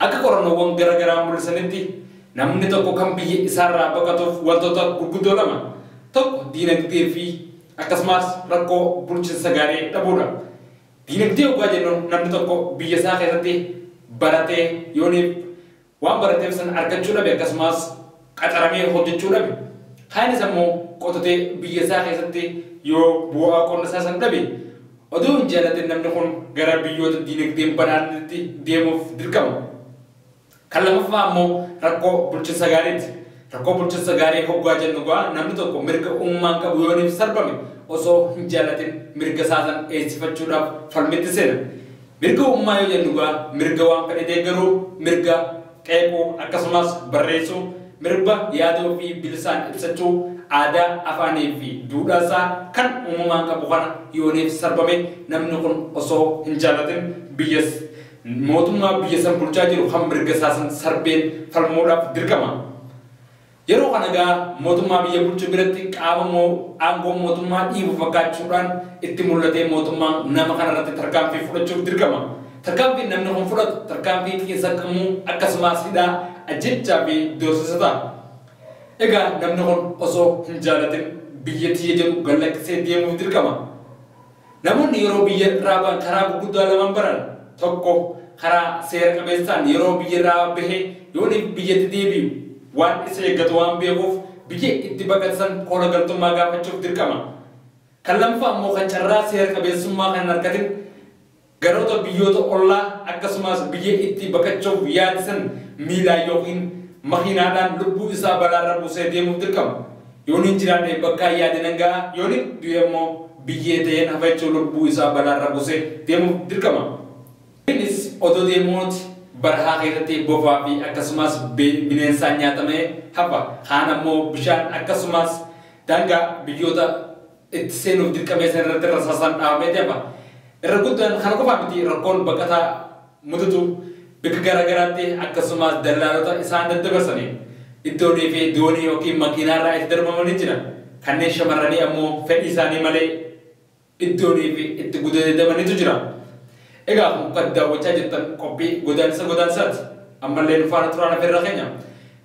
Akka qorannoowwan gara garaa mul'isanitti, namni tokko kan biyya isaarraa baqatuuf wantoota gurguddoo lama, tokko diinagdee fi akkasumaas rakkoo bulchinsa gaarii dhabuudha. Diinagdee oggaa jennu namni tokko biyya isaa keessatti baratee yooniif waan barateef sana argachuu dhabe akkasumaas, qacaramee hojjechuu dhabe, kaanis ammoo qotatee biyya isaa keessatti yoo bu'aa qonna isaa san dhabe, odoo hin jaalatin namni kun gara biyyoota diinagdeen badhaadhanitti deemuuf dirqama. Kan lamaffaa ammoo rakkoo bulchinsa gaariiti. Rakkoo bulchinsa gaarii hoggaa jennu egaa namni tokko mirga uummaan qabu yoo iniif sarbame osoo hin jaalatin mirga isaa san eegsifachuudhaaf falmitti seena. Mirga uummaa yoo jennu egaa mirga waan fedhe deeggaruu, mirga qeequu, akkasumas barreessuu, mirba yaada ofii bilisaan ibsachuu, aadaa, afaanii fi duudhaa isaa kan uumamaan qabu kana yooniif sarbame namni kun osoo hin jaalatin biyyas mootummaa biyya san bulchaa jiru kan mirga isaa san sarbeen falmuudhaaf dirqama. Yeroo kana egaa mootummaa biyya bulchu biratti qaama moo'u, aangoo mootummaa dhiibu fakkaachuudhaan itti mul'atee mootummaan nama kanarratti tarkaanfii fudhachuuf dirqama. Tarkaanfiin namni kun fudhatu tarkaanfii xiinsammuu akkasumaas hidhaa, ajjeechaa fi doorsisa ta'a. Egaa namni kun osoo hin jaalatin biyya tiyya jedhu gad lakkisee deemuuf dirqama. Namoonni yeroo biyya irraa bahan karaa gurguddaa lamaan baran. Tokko, karaa seera qabeessaan yeroo biyya irraa bahee yooniif biyyatti deebi'u waan isa eeggatu waan beekuuf biyya itti baqate san koola galtummaa gaafachuuf dirqama. Kan lammaffaa ammoo kan carraa seera qabeessummaa kan hin argatin, Ganoota biyyoota ollaa akkasumaas biyya itti baqachuuf yaade san miilaa yookiin makiinaadhaan lubbuu isaa balaarra buusee deemuuf dirqama. Yoonin jiraadhe bakkaa yaade nan ga'a, yoonin du'e immoo biyyee ta'een hafa jechuun lubbuu isaa balaarra buusee deemuuf dirqama. Innis odoo deemuuti barahaa keessatti bofaa fi akkasumaas bineensaan nyaatamee hafa. Kaan ammoo bishaan akkasumaas daangaa biyyoota. itti seenuuf dirqamee san irratti rasaasaan dhahamee deema. Irra guddaan kana qofaa miti rakkoon baqataa mudatu bikka gara garaatti akkasumaas dallaalota isaan daddabarsaniin iddoonii fi doonii ykn makiinaa irraa itti darbama ni jira. Kanneen shamarranii ammoo fedhii isaanii malee iddoonii fi itti gudeedamanitu jira. Egaa kun kan daawwachaa jirtan qophii godaannisa godaannisaati. Ammallee nu faana turaan afeerraa keenya.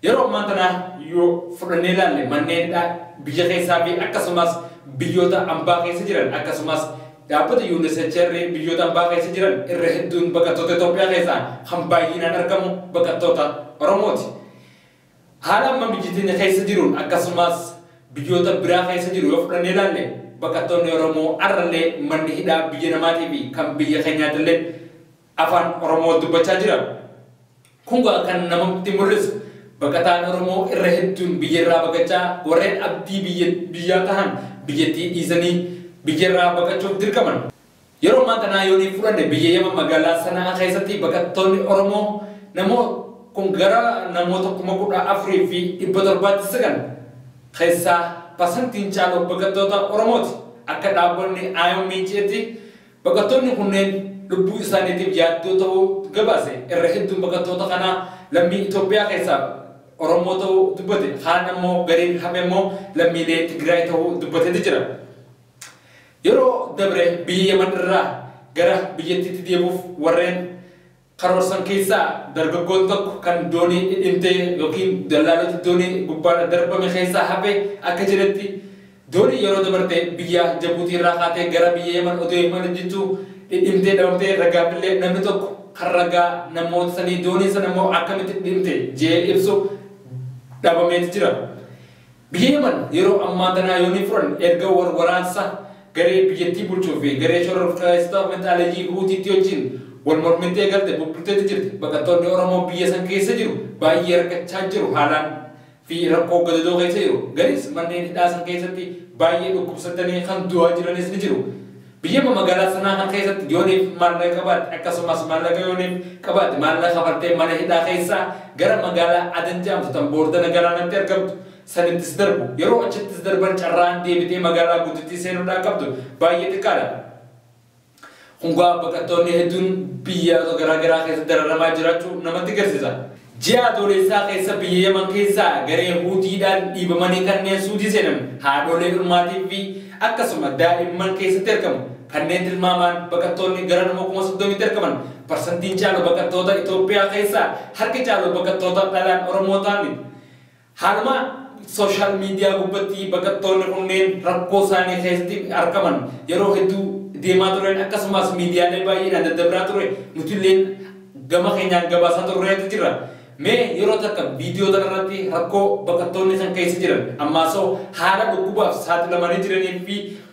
Yeroo ammaa tana yoo fudhannee ilaalle manneen hidhaa biyya keessaa fi akkasumaas biyyoota ambaa keessa jiran akkasumaas dhaabbata UNHCR biyyoota ambaa keessa jiran irra hedduun baqattoota Itoophiyaa keessaa kan baayyiinaan argamu baqattoota Oromooti. Haala amma biyyi teenya keessa jiruun akkasumaas biyyoota biraa keessa jiru yoo fudhannee ilaalle baqattoonni Oromoo har'allee manni hidhaa biyya namaatiifi kan biyya keenyaatillee Afaan Oromoo dubbachaa jira. Kun gaa kan namatti mul'isu baqataan Oromoo irra hedduun biyyarraa baqachaa warreen abdii biyya biyyaa tahan biyyattii dhiisanii biyyarraa baqachuuf dirqaman. Yeroo ammaa tanaa yoonii fudhanne biyya Yaman magaalaa Sana'aa keessatti baqattoonni Oromoo namoo kun gara namoota 14,700tti siqan. Keessaa parsantiin caalu baqattoota Oromooti. Akka dhaabonni IOM je'etti Baqattoonni kunneen lubbuu isaaniitiif yaaddoo ta'uu gabaase irra hedduun baqattoota kanaa lammii Itoophiyaa keessaa Oromoo ta'uu dubbate kaan ammoo gariin hafe immoo lammiilee Tigraay ta'uu dubbateeti jira. Yeroo dabre biyya Yaman irraa gara biyyattiitti deebuuf warreen. karoorsan keessaa dargaggoon tokko kan doonii dhidhimtee ykn dallaalota doonii gubbaarra darbame keessaa hafe akka jedhetti, dooniin yeroo dabarte biyya Jabuutiirraa kaatee gara biyya Yaman otoo imaluu jirtuu dhidhimtee dhabamtee ragaafillee namni tokko kan ragaa namoota sanii dooniin sanammoo akkamitti dhidhimte jedhee ibsu dhabameeti jira. Biyya Yaman yeroo ammaa tanaa yoon hin furanne erga wal waraansa garee biyyattii bulchuu fi garee shororkeessitoota finxaaleyyii Huutiitti wajjiin wal mormitti eegalte bubbulteetti jirti. Baqattoonni Oromoo biyya san keessa jiru baay'ee rakkachaa jiru haalaan fi rakkoo gadadoo keessa jiru. Gariis manneen hidhaa san keessatti baay'ee dhukkubsatanii kan du'aa jiranis ni jiru. Biyyuma magaalaa sanaa kan keessatti Jooniif maallaqa qabaatte akkasumas maallaqa Yooniif qabaatte maallaqa kafaltee mana hidhaa keessaa gara magaalaa Aden jedhamtu tan boordana galaanatti argamtu sanittis darbu. Yeroo achittis darban carraan deebitee magaalaa guddittii seenuudhaa qabdu baay'ee xiqqaadha. Kun gaa baqattoonni hedduun biyyoota garaa garaa keessatti dararamaa jiraachuu namatti garsiisa. Ji'a Adooleessaa keessa biyya Yaman keessaa garee Huutiidhaan dhiibamanii kanneen Suudii seenan haadholee ilmaatii fi akkasuma daa'imman keessatti argamu. Kanneen tilmaamaan baqattoonni gara nama kuma 30tti argaman parsantiin caalu baqattoota Itoophiyaa keessaa harki caalu baqattoota dhalaan Oromoo ta'anidha. Haaluma social media gubbatti baqattoonni kunneen rakkoo isaanii keessatti argaman yeroo hedduu deemaa turen akkasumaas miidiyaalee baay'eedhaan daddabraa ture nutilleen gama keenyaan gabaasaa turreetu jirra. Mee yeroo takka video tana irratti rakkoo baqattoonni kan keessa jiran ammaasoo haala dhukkubaaf saaxilamanii jiranii fi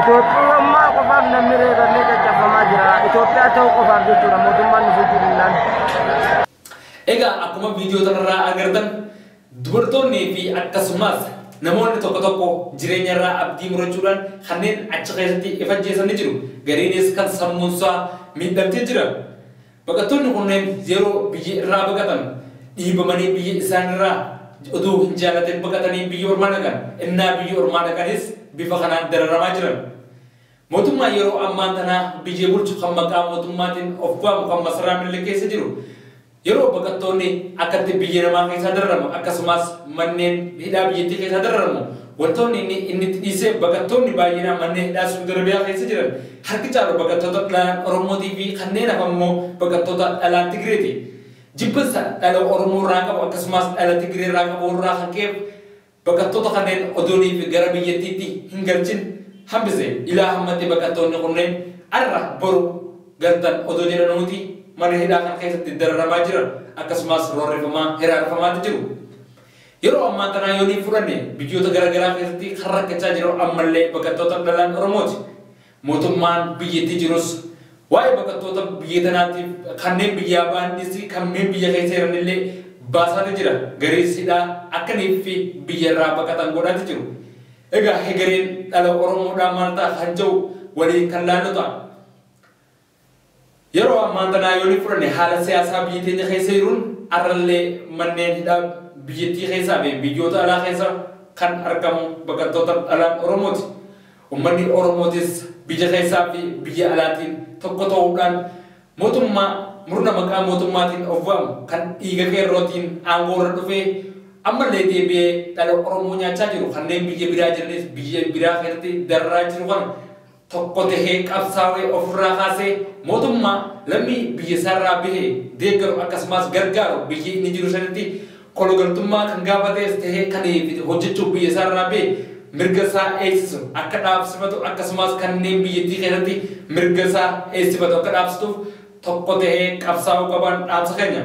Itoophiyyummaa qofaaf namni reebamee caccabamaa jira. Itoophiyaa ta'uu qofaaf jechuudha mootummaan nu bulchuu dinnaan. Egaa akkuma viidiyoo kanarraa agartan dubartoonnii fi akkasumas namoonni tokko tokko jireenyarraa abdii murachuudhaan kanneen achi keessatti of ajjeesan ni jiru. Gariinis kan sammuunsaa miidhamtee jira. Baqattoonni kunneen yeroo biyya irraa baqatan dhiibamanii biyya isaanirraa utuu hin jaalatin baqatanii biyya ormaa dhaqan. Ennaa biyya ormaa dhaqanis bifa kanaan dararamaa jiran. Mootummaan yeroo ammaan tanaa biyya bulchu kan maqaa mootummaatiin of waamu kan masaraa Minilik keessa jiru yeroo baqattoonni akkatti biyya namaa keessaa dararamu akkasumaas manneen hidhaa biyyattii keessaa dararamu Wantoonni inni inni itti dhiiseef baqattoonni baay'inaan manneen hidhaa Suudi Arabiyaa keessa jiran harki caalu baqattoota dhlaan Oromootii fi kanneen hafan immoo baqattoota dhalaa Tigreeti. Jibbinsa dhala Oromoo irraa qabu akkasumaas dhala Tigree irraa qabu irraa kan ka'eef baqattoota kanneen odoonii fi gara biyyattiitti hin galchin hambise. Ilaa hammatti baqattoonni kunneen arra boru galtan odoo jedhanuuti mana hidhaa kana keessatti dararamaa jiran akkasumaas roorrifamaa hiraarfamaati jiru. Yeroo ammaa tanaa yonii fudhanne biyyoota gara garaa keessatti kan rakkachaa jiru ammallee baqattoota dhalaan Oromooti. Mootummaan biyyattii jirus waa'ee baqattoota biyya tanaatiif kanneen biyyaa bahan dhiisii kanneen biyya keessa jiranillee baasaati jira. Gariis hidhaa akka niiffi biyya irraa baqatan godhaati jiru. Egaa hegereen dhala Oromoodhaa maal ta'a kan ja'u waliin kan laallu ta'a. Yeroo ammaan tanaa yooni fudhanne haala siyaasaa biyyi teenya keessa jiruun arrallee manneen hidhaa biyyattii keessaa fi biyyoota alaa keessa kan argamu baqattoota dhalaan Oromooti. Ummanni Oromootis biyya keessaa fi biyya alaatiin tokko ta'uudhaan mootummaa murna maqaa mootummaatiin of waamu kan dhiiga qeerrootiin aangoo irra dhufee ammallee deebi'ee dhala Oromoo nyaachaa jiru kanneen biyya biraa jiranis biyya biraa keessatti dararaa jiru kana tokko tahee qabsaawee ofirraa kaasee mootummaa lammii biyya isaarraa bahe deeggaru akkasumaas gargaaru biyyi inni jiru sanitti kologaltummaa kan gaafatees tahee kan itti hojjachuuf biyya isaarraa bahe mirga isaa eegsisu akka dhaabsifatu akkasumaas kanneen biyyattii keessatti mirga isaa eegsifatu akka dhaabsituuf tokko tahee qabsaawuu qabaan dhaamsa keenya.